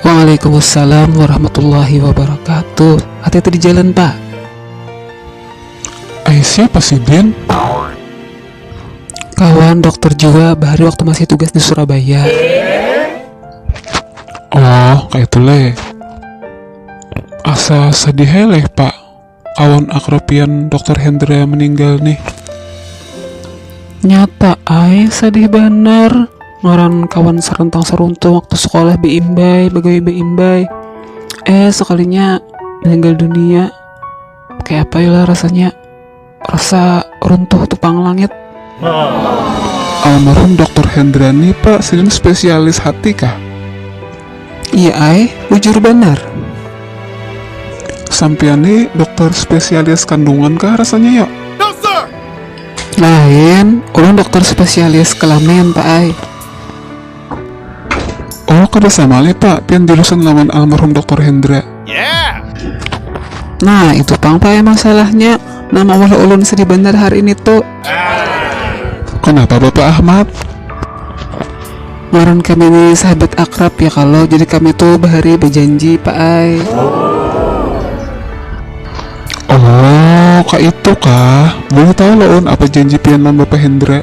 Waalaikumsalam warahmatullahi wabarakatuh hati hati di jalan pak. Ai siapa sidin? Kawan dokter jua bahari waktu masih tugas di surabaya. Oh kaya itu leh. Asa sadih ai leh pak. Kawan akrab pian Dokter Hendra meninggal nih. Nyata ai sadih banar ngaran kawan sarantang saruntung waktu sekolah beimbai begawi beimbai eh sekalinya meninggal dunia kayak apa ya lah rasanya rasa runtuh tupang langit Almarhum Doktor Hendrani pa sidin spesialis hati kah? Iya ai, bujur banar. Sampiyan ni dokter spesialis kandungan kah rasanya yo? Lain, ulun dokter spesialis kelamin pa ai. Oh, kada sama leh pak, pian jurusan lawan almarhum Doktor Hendra. Yeah. Nah, itu pang pak emang salahnya, nang maulah ulun sedih banar hari ini tu. Kanapa Bapak Ahmad? Ngaran kami ni sahabat akrab ya kalo, jadi kami tu bahari bajanji pak ai. Oh, kaitu kah? Boleh tahu lo un, apa janji pian lawan Bapak Hendra?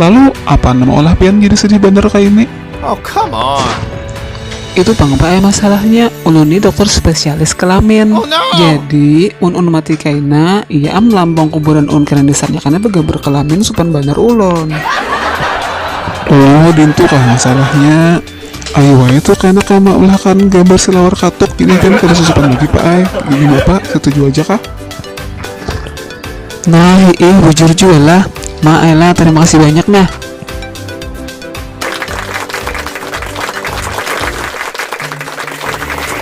Lalu apaan nama olah pian jadi sedih banar kaya ini? Oh come on. Itu pang bae masalahnya, ulun ni dokter spesialis kelamin. Oh, no. Jadi, mun un mati kaina, iya am lambang kuburan un kena disanyakannya begambar kelamin supan banar ulun. Oh, dintu kah masalahnya? Ayu wae tuh kaina kaya maulahakan gambar silawar katuk, jadi kan kada susupan lagi pak ai. Gimana pak, setuju aja kah? Nah ih bujur jua lah. Ma Ella terima kasih banyak nah.